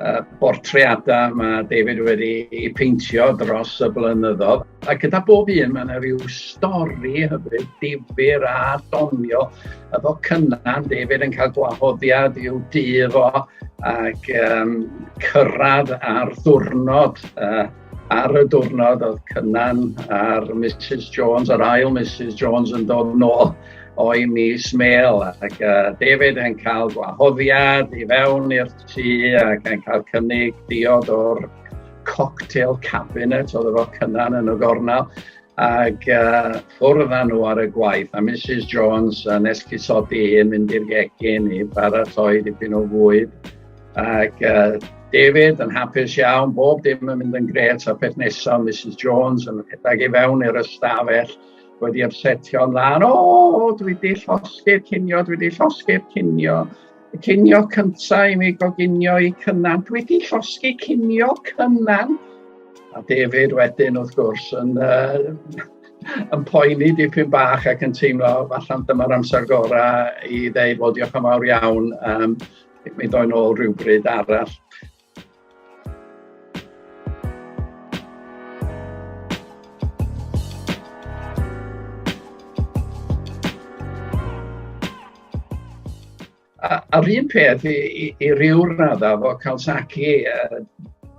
uh, bortreadau mae David wedi ei peintio dros y blynyddoedd. A gyda bob un mae yna rhyw stori hyfryd, difyr a donio. A fo cynnan, David yn cael gwahoddiad i'w dydd o ac um, cyrraedd ar ddwrnod uh, ar y diwrnod oedd Cynan a'r Mrs Jones, yr ail Mrs Jones yn dod nôl o'i mis mêl ac uh, David yn cael gwahoddiad i fewn i'r ti ac yn cael cynnig diod o'r cocktail cabinet oedd efo cynnan yn y gornel ac uh, ffwrdd â nhw ar y gwaith a Mrs Jones yn esgusodi i mynd i'r gegin i baratoi dipyn o fwyd ac uh, David yn hapus iawn, bob dim yn mynd yn gret a peth nesaf Mrs Jones yn rhedeg i fewn i'r ystafell wedi ymsetio'n lan, o, dwi wedi llosgi'r cinio, dwi wedi llosgi'r cinio. Y cinio cyntaf i mi goginio i Cynan. Dwi wedi llosgi cinio Cynan. A David wedyn wrth gwrs yn uh, yn poeni dipyn bach ac yn teimlo falle'n dyma'r amser gorau i ddeud, wel, diolch yn fawr iawn, um, mi ddoen ôl rhywbryd arall. a'r un peth i i i ryw radda efo Kawasaki yy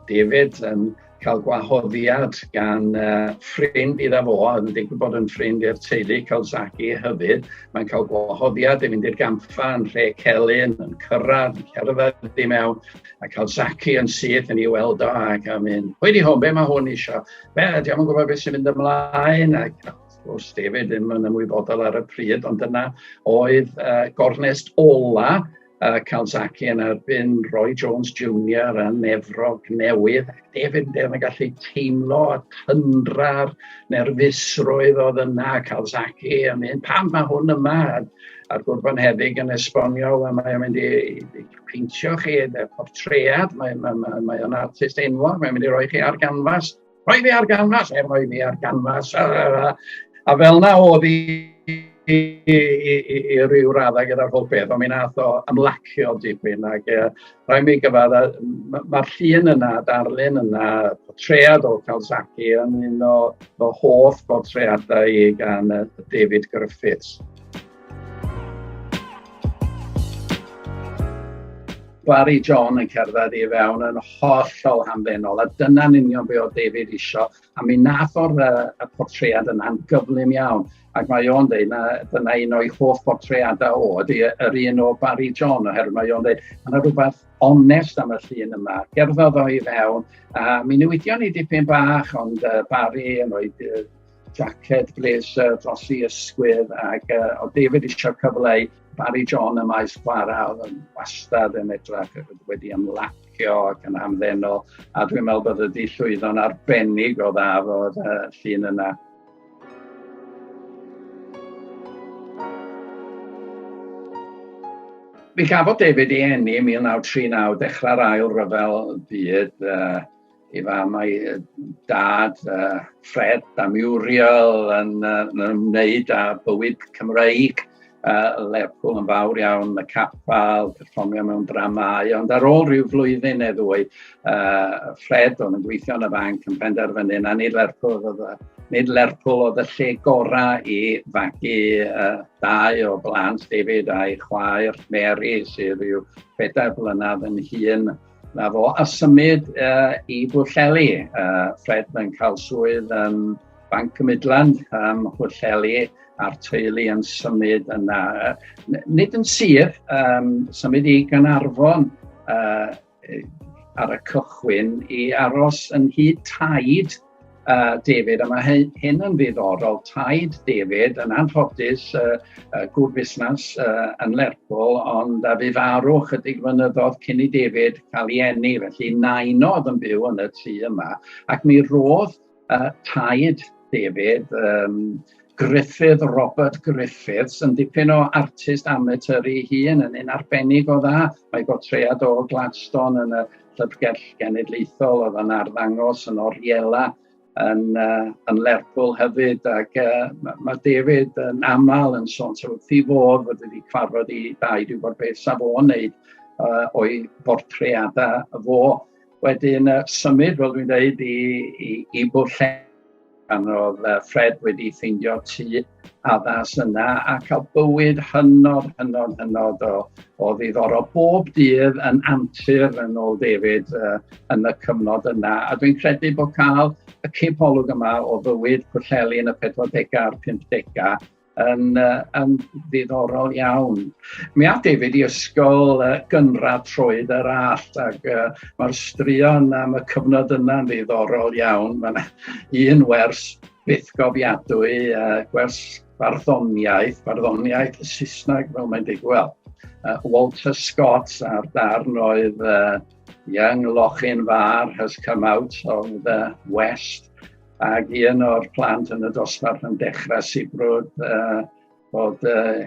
David yym cael gwahoddiad gan uh, ffrind idda fo, oedd yn digwydd bod yn ffrind i'r teulu Calzaki hyfyd. Mae'n cael gwahoddiad i fynd i'r gampfa yn rhe celyn, yn cyrraedd, yn cerdded i mewn, a Calzaki yn syth yn ei weld o ac am un. Hwy di hwn, be mae hwn eisiau? Be, di am yn gwybod beth sy'n mynd ymlaen? Ac wrth David ddim yn ymwybodol ar y pryd, ond dyna oedd uh, gornest ola uh, Calzaki yn erbyn Roy Jones Jr. yn Efrog Newydd. David Dew yn gallu teimlo y tyndra'r nerfusrwydd oedd yna Calzaki yn mynd, pam mae hwn yma? A'r gwrban heddig yn esbonio, a mae'n mynd i, i peintio chi y portread, mae'n mae, mae, mae artist enwog, mae'n mynd i roi chi ar ganfas. rhoi fi ar ganfas, er rhoi mi ar ganfas, a, a, a fel na oedd i, i, i, i, i ryw raddau gyda'r holl beth, ond mi nath o ymlacio dipyn, ac e, rhoi mi gyfad, mae'r ma llun yna, darlun yna, potread o Kawasaki yn un o fy hoff botreadau i gan David Griffiths. Barry John yn cerdded i fewn yn hollol hamddenol, a dyna'n union be oedd David isio, a mi nath o'r uh, y portread yna'n gyflym iawn, ac mae o'n dweud na dyna un o'i hoff portreadau o, ydy yr un o Barry John, oherwydd mae o'n dweud, mae yna rhywbeth onest am y llun yma, gerddodd o i fewn, a mi newidion ni dipyn bach, ond uh, Barry yn o'i jacket, blazer dros i ysgwydd ac uh, o David eisiau cyfle i Barry John y maes chwarae oedd yn wastad yn edrych wedi ymlacio ac yn amddeno a dwi'n meddwl bod ydi llwyddo'n arbennig o dda fod uh, llun yna. Mi gafodd David ei enni 1939 dechrau'r ail ryfel byd uh, ei fam a'i dad, uh, Fred a Muriel, yn, uh, yn ymwneud â bywyd Cymreig, uh, Lerpwl yn fawr iawn, y capel, perfformio mewn dramau, ond ar ôl rhyw flwyddyn neu ddwy, uh, Fred o'n yn gweithio yn y fanc yn penderfynu na nid Lerpwl oedd y, nid Lerpwl oedd y lle gorau i fagu uh, dau o blant David a'i chwaer Mary sydd rhyw bedair blynedd yn hun Na fo, a symud uh, i Bwlleli. Uh, Fred mae'n cael swydd yn Banc y Midland ym Mhwlleli a'r teulu yn symud yna. Uh, nid yn sir, um, symud i Ganarfon uh, ar y cychwyn i aros yn hyd taid uh, David, a mae hyn yn ddiddorol, taid David yn anffodus uh, uh, gŵr busnes uh, yn Lerpwl, ond a fi farw chydig fynyddodd cyn i David cael ei enni, felly nain oedd yn byw yn y tŷ yma, ac mi roedd uh, taid David, um, Griffith, Robert Griffiths, yn dipyn o artist amateur ei hun, yn un arbennig o dda. Mae gotread o Gladstone yn y Llyfrgell Genedlaethol oedd yn arddangos yn Oriela yn, uh, yn Lerpwl hefyd ac uh, mae ma David yn aml yn sôn so, wrth i fod fod wedi cyfarfod i dau dwi'n gwybod beth saf o'n wneud uh, o'i bortreadau fo. Wedyn uh, symud, fel dwi'n dweud, i, i, i bwll Pan oedd Fred wedi ffeindio tŷ addas yna a cael bywyd hynod, hynod, hynod o, o ddiddorol. Bob dydd yn antur yn ôl David uh, yn y cyfnod yna. A dwi'n credu bod cael y cipolwg yma o fywyd Pwllheli yn y 40au a'r 50au yn, uh, yn ddiddorol iawn. Mi a David i ysgol uh, gynradd troed yr allt ac uh, mae'r straeon am y cyfnod yna'n ddiddorol iawn. Mae'n un wers byth gofiadwy, uh, gwers farddoniaeth, farddoniaeth y Saesneg fel mae'n digwydd. Uh, Walter Scott a'r darn oedd uh, Young Lochin Far has come out of the West Ac un o'r plant yn y dosbarth yn dechrau sibrwd uh, bod uh,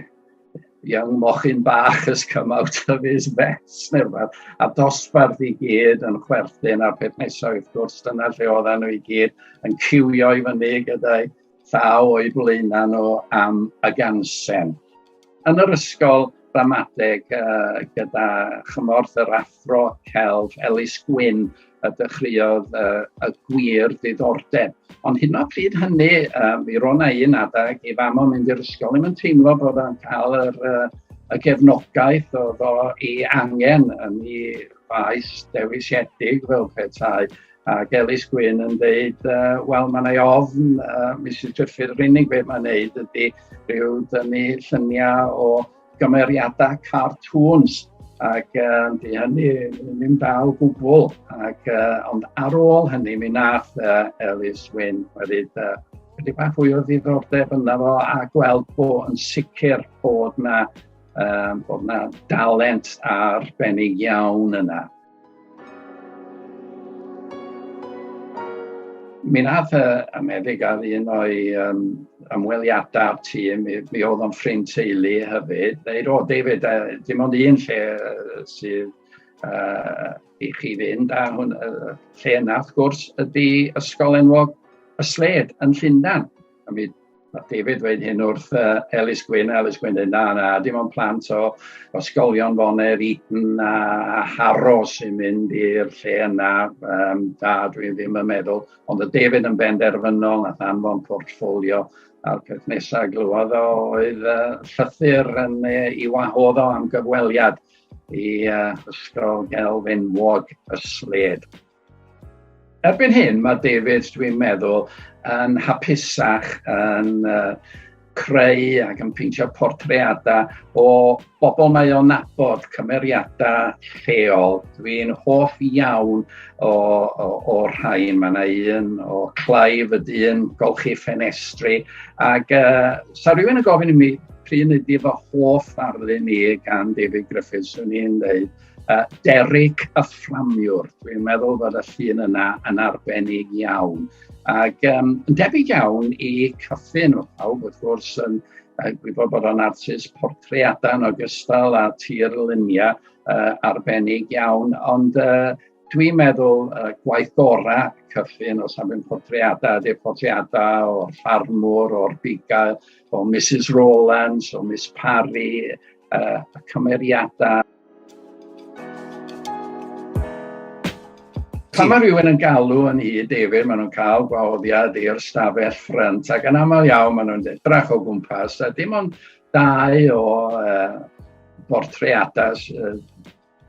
young mochyn bach has come out of his mess neu rhywbeth. A dosbarth i gyd yn chwerthin a'r peth nesaf wrth gwrs dyna lle oedden nhw i gyd yn cywio i fyny gyda'i thaw o'i blaenau nhw am y gansen. yn yr ysgol ramadeg yy gyda chymorth yr athro celf Elis Gwyn y dechreuodd yy y gwir ddiddordeb. Ond hyd yn oed pryd hynny, uh, mi rona un adeg i fam o'n mynd i'r ysgol, ddim yn teimlo bod o'n cael yr, uh, y gefnogaeth oedd o ei angen yn ei faes dewisiedig fel petai. Ac Elis Gwyn yn dweud, uh, wel, mae yna ofn, uh, Mrs Treffydd, yr unig beth mae'n neud ydy rhyw dynnu lluniau o gymeriadau cartoons. Ac uh, di hynny ddim dal gwbl. Ac, uh, ond ar ôl hynny, mi nath uh, Elis Wyn wedi uh, wedi bach fwy o ddiddordeb yna fo a gweld bod yn sicr bod na, um, bod na dalent arbennig iawn yna. Mi wnaeth y y meddyg ar un o'i yym ymweliadau â'r tîm, mi mi oedd o'n ffrind teulu hefyd, ddeud "O David, yy dim ond un lle yy sydd yy i chi fynd" a hwn- yy lle yna wrth gwrs ydy ysgol enwog Y Slade yn Llundain. A mi Mae David wedi hyn wrth uh, Elis Gwyn, Elis Gwyn dweud, na, na, dim ond plant o ysgolion Foner, Eton a, a Harro sy'n mynd i'r lle yna, um, da, dwi ddim yn meddwl. Ond y David yn benderfynol, nath anfon portfolio, a'r peth nesaf glywodd o oedd uh, llythyr yn ei wahodd o am gyfweliad i uh, ysgol gelfenwog y sled. Erbyn hyn mae David, dwi'n meddwl, yn hapusach yn uh, creu ac yn peintio portreadau o bobl mae o'n nabod, cymeriadau lleol. Dwi'n hoff iawn o, o, o rhai. Mae yna un o Clive y dyn, golchi ffenestri. Ac uh, sa rhywun yn gofyn i mi pryd ydy fy hoff ddarlun ni gan David Griffiths, swn i'n dweud Uh, Derek y Fframiwr, dwi'n meddwl bod y llun yna yn arbennig iawn. Ac um, yn debyg iawn i Cyffin o pawb, wrth gwrs, yn uh, gwybod bod o'n artist portreadau yn ogystal â tir luniau uh, arbennig iawn, ond uh, dwi'n meddwl uh, gwaith gorau Cyffin o safon portreadau, ydy'r portreadau o'r ffarmwr, o'r bugail, o Mrs Rowlands, o Miss Parry, uh, y cymeriadau Pan mae rhywun yn galw yn i David, maen nhw'n cael gwahoddiad i'r stafell ffrynt, ac yn aml iawn maen nhw'n edrach o gwmpas, a dim ond dau o uh, bortreadau uh,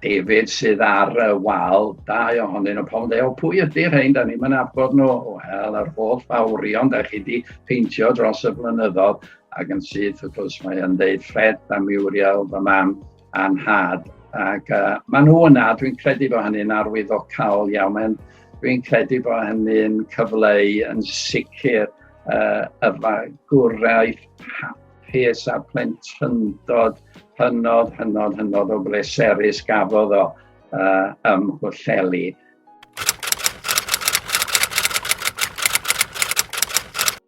David sydd ar y wal, dau ohonyn nhw, pan dweud, o pwy ydy rhain, da ni'n mynd abod nhw, wel, yr holl fawrion da chi wedi peintio dros y blynyddoedd, Ac yn syth, wrth gwrs, mae o'n deud ffred a miwriawl fy mam a'n nhad. Ac uh, maen nhw yna, dwi'n credu bod hynny'n arwyddocaol iawn. Mae'n, dwi'n credu bod hynny'n cyfleu yn sicr uh, y fagwraeth hapus a plentyndod hynod, hynod, hynod o bleserus gafodd o uh, ym Mhwllheli.